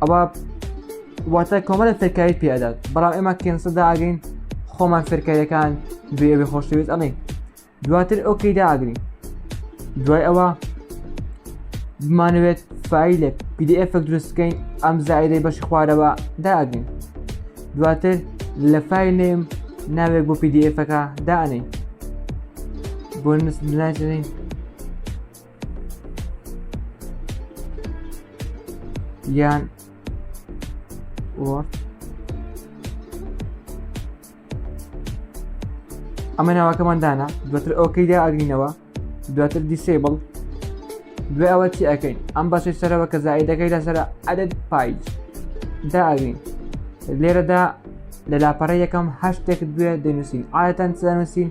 ئەوە واتە کۆمەلە فێرکاری پێدات بەڵام ئێمە کێنسە داگەین خۆمان فێرکاریەکان بێبێ خۆشەویست ئەڵێ دواتر ئۆکی داگرین دوای ئەوە بمانەوێت فیلە PDF دروستکەین ئەم زایدەی بەشی خوارەوە داگرین دواتر لە فیل نێم ناوێک بۆ PDFەکە دانین بۆ نووسناچین یان وۆرد ئەمە ناوەکەمان دانا دواتر ئەوکەیدا ئەگرینەوە دواتر دیسیبڵ دوێ ئەوە چی ئەەکەین ئەم بەشی سەرەوە کە زایدەکەی لەسەر عدد پایج داگرین لێرەدا لە لاپەڕە یەکەم هەشتێک دوێ دەنووسین ئاەتەن سەنووسین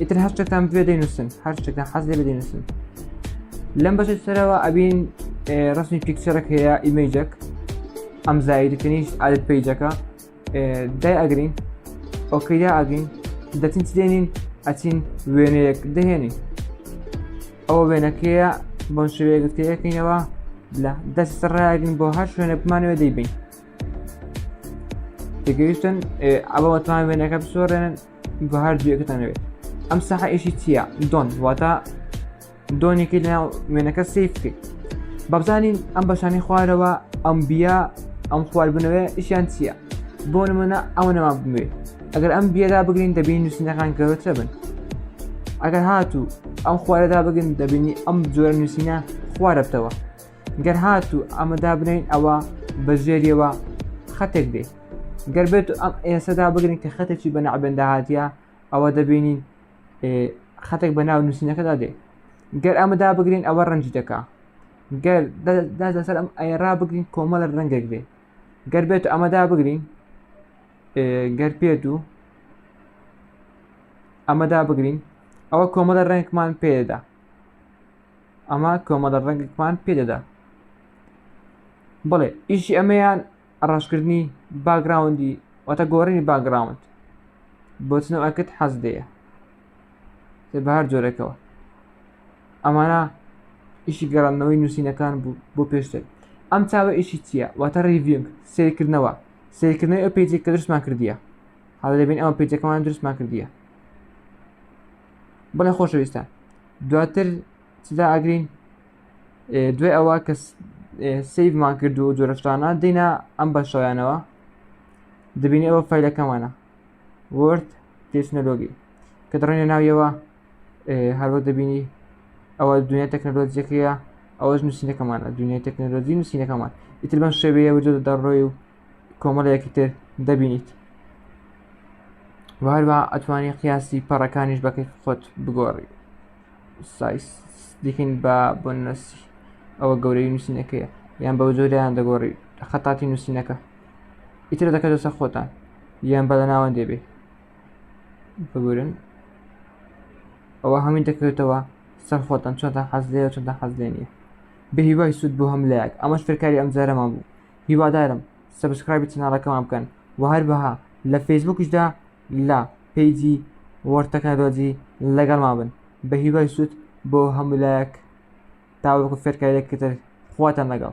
ئیتر هەر شتێکتان بوێ دەینووسن هەر شتێکتان حەز لێ دەینووسن لەم بەشت سەرەوە ئەبین ڕسمی پیکچەرەک هەیە ئیمەیجەک ئەم زایدکەنیش عادت پیجەکە دای ئەگرین ئۆکەیا ئەگین دەچین دێنین ئەچین وێنەیەک دەهێنین ئەوە وێنەکەیە بۆن شوێ گرتەیەکەینەوە لە دەست ڕایگرین بۆ هەر شوێنە بمانەوە دەیبین تگەیشتن ئەوەتوان وێنەکە بسۆڕێنن بە هەر جوێکەتانەوێت ئەم سەحە ئێشی چییە دۆن واتە دۆنێکی لە وێنەکە سیف بکەیت بەبزانین ئەم بەشانی خوارەوە ئەم بیا ئەم خواردبنەوەی ئیشیان چییە بۆ نمونە ئەوە نەما بمێت ئەگەر ئەم بیێدا بگرین دەبین نووسینەکان گەورەتر بن ئەگەر هاتوو ئەم خوارەدا بگن دەبینی ئەم جۆرە نووسینە خوارەتەوە گەر هاتوو ئەمە دابنین ئەوە بە ژێریەوە خەتێک دێت گەر بێت ئەم ئێسەدا بگرین کە خەتێکی بە نەعبێندا هااتە ئەوە دەبینین خەتێک بە ناو نووسینەکەدا دێ گەر ئەمەدا بگرین ئەوە ڕەنج دەکا گەر دەسەر ئەم ئەیرا بگرین کۆمە لە ڕەنگێک بێ گەر بێت ئەمەدا بگرین گەر پێت و ئەمەدا بگرین ئەوە کۆمەلە ڕێنکمان پێدا ئەمە کۆمەڵە ڕەنگێکمان پێدەدا بڵێ ئیشی ئەمەیان ڕاشکردنی باگراوندی واتە گۆڕینی باگراوند بۆچنەوە ئەکرد حەز دەیە بە هەر جۆرێکەوە ئەمانە ئیشی گەڕاندنەوەی نووسینەکان بوو بۆ پێشتر ئەم چاوە ئیشی چییە واتە ریڤنگ سیرکردنەوە سیرکردنەوەی ئەو پێجێک کە درستمان کردیە حاڵ دەبین ئەوە پێجەکەمان درستمان کردیە بڵێ خۆشەویستە دواتر چدا ئاگرین دوێ ئەوە کە سیفمان کرد و جۆرەشتانە دینا ئەم بەشەوەیانەوە دەبینی ئەوە فیلەکەمانە ورد تێچنەلۆگی کە دڕێنە ناویەوە هەروە دەبینی ئەوە دنیا تەکنەلۆجیەکەیە ئەوەش نووسینەکەمانە دنیای تەکنەلۆجی نووسینەکەمان ئیتر بەم شێوەیە وجود دەڕۆی و کۆمەڵەیەکی تر دەبینیت وهروە ئەتوانی قیاسی پەڕەکانیش بەکەی خۆت بگۆڕی سایس دیکن بە بۆ نەسی ئەوە گەورەی نووسینەکەیە یان بەو جۆریان دەگۆڕی خەتاتی نووسینەکە ئیتر دەکە دەسە خۆتان یان بە لە ناوەند دەبێ بگورن ئەوە هەمین دەکەوێتەوە سەر خۆتان چۆنتان حەزلەیە چۆنتان حەزلێ نیە بهیوای سوود بۆ هەم لایەک ئەمەش فێرکاری ئەم جارەمان بوو هیوادارم سەبسکرایبی چەناڵەکەمان بکەن و هەروەها لە فەیسبووکیشدا لە پەیجی وەرد تەکنەلۆجی لەگەڵمان بن بە هیوای سوود بۆ هەموو لایەک تاوەکو فێرکارییەکی تر خواتان لەگەڵ